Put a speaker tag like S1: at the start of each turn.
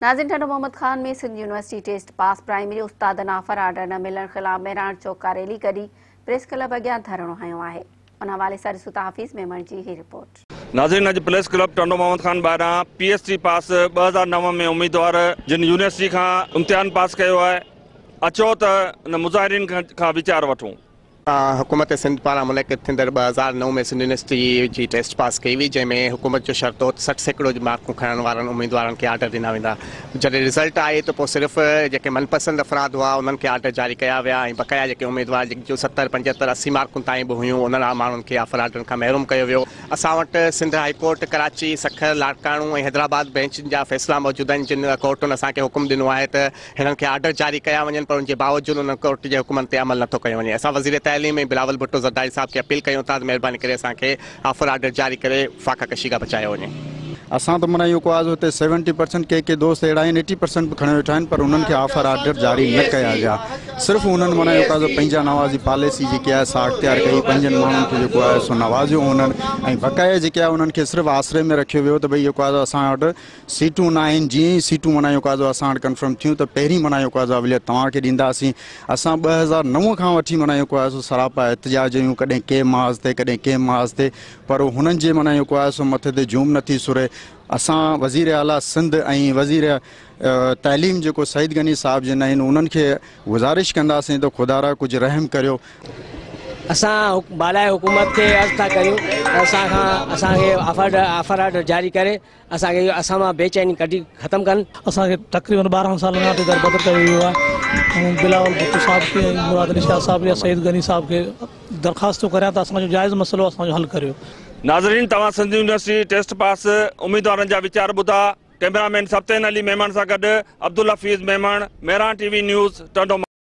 S1: ناظرين Thatta Muhammad Khan ۾ Sindh university test pass primary استادن offer order نه ملڻ خلاف مهراڻ چوڪ کان ريلي ڪڍي پريس ڪلب اڳيان ڌرڻو هنيو آهي ان حوالي سان ڏسو ٿا حفيظ ميمڻ جي هي رپورٽ. ناظرين اڄ پريس
S2: ڪلب ٽنڊو محمد خان ٻاهران پي ايس ٽي پاس ٻه هزار نو ۾ اميدوار جن يونيورسٽي کان امتحان پاس ڪيو آهي اچو ته ان مظاهرين کان ويچار وٺون. حڪومت
S3: سنڌ پاران منعقد ٿيندڙ ٻه هزار نو ۾ سنڌ يونيورسٽي جي ٽيسٽ پاس ڪئي وئي جنهن ۾ حڪومت جو شرط هو ته سٺ سيڪڙو جي مارڪون کڻڻ وارن اميدوارن کي آرڊر ڏنا ويندا جڏهن رزلٽ آئي ته پوء صرف جيڪي من پسند افراد هئا انهن کي آرڊر جاري ڪيا ويا ۽ بقايا جيڪي اميدوار جن جون ستر پنجهتر اسي مارڪون تائين به هيون انهن ماڻهن کي آفر آرڊرن کان محروم ڪيو ويو اسان وٽ سنڌ هائي ڪورٽ ڪراچي سکر لاڙڪاڻو ۽ حيدرآباد بئنچن جا فيصلا موجود آهن جن ڪورٽن اسان کي حڪم ڏنو آهي ته هنن کي آرڊر جاري ڪيا وڃن پر ان جي باوجود انهن ڪورٽ جي حڪمن تي عمل نٿو ڪيو وڃي اسان وزير تعليم ۽ بلاول ڀٽو زرداري صاحب کي اپيل ڪيون ٿا ته مهرباني ڪري اسان کي آفر آرڊر جاري ڪري فاقا ڪشي کان بچايو وڃي. اسان ته منا اهو
S4: ڪو آز هتي سيونٽي پرسنٽ ڪي ڪي دوست اهڙا آهن ايٽي پرسنٽ به کڻي ويٺا آهن پر انهن کي آفر آرڊر جاري نه ڪيا ويا صرف انهن منا اهو ڪاز پنهنجا نوازي پاليسي جيڪي آهي سا اختيار ڪئي پنهنجن ماڻهن کي جيڪو آهي سو نوازيو انهن ۽ بقايا جيڪي آهي انهن کي صرف آسري ۾ رکيو ويو ته ڀئي اهو ڪاز اسان وٽ سيٽون ناهن، جيئن ئي سيٽون منهن جو قاضو اسان وٽ ڪنفرم ٿيون ته پهرين منهن جو قاضو اوليت توهان کي ڏينداسين. اسان ٻه هزار نو کان وٺي منهن جو قاضو سراپا احتجاج هيون، ڪڏهن ڪنهن محاذ تي ڪڏهن ڪنهن محاذ تي پر هنن جي منهن جو قاضو مٿي تي جوم نه ٿي سرهي. اسان وزير اعليٰ سنڌ ۽ وزير تعليم جيڪو سعيد غني صاحب جن آهن انهن کي گذارش ڪنداسين ته خدارا ڪجهه رحم ڪريو. اسان
S5: بالائي حڪومت کي عرض ٿا ڪريون ته اسان کان اسان کي آفر آرڊر جاري ڪري اسان کي اهو اسان مان بي چيني ڪڍي ختم ڪن. اسان کي تقريبن
S6: ٻارهن سال کان اتي دربدر ڪيو ويو آهي ۽ بلاول ڀٽو صاحب کي ۽ مراد علي شاهه صاحب يا سعيد غني صاحب کي درخواست ٿو ڪريان ته اسان جو جائز مسئلو اسان جو حل ڪريو. ناظرين توهان
S2: سنڌ يونيورسٽي ٽيسٽ پاس اميدوارن جا ويچار ٻڌا ڪئميرا مين سبطين علي ميمڻ سان گڏ Abdul Hafeez Memon Mehran T V news Tando ماٿو.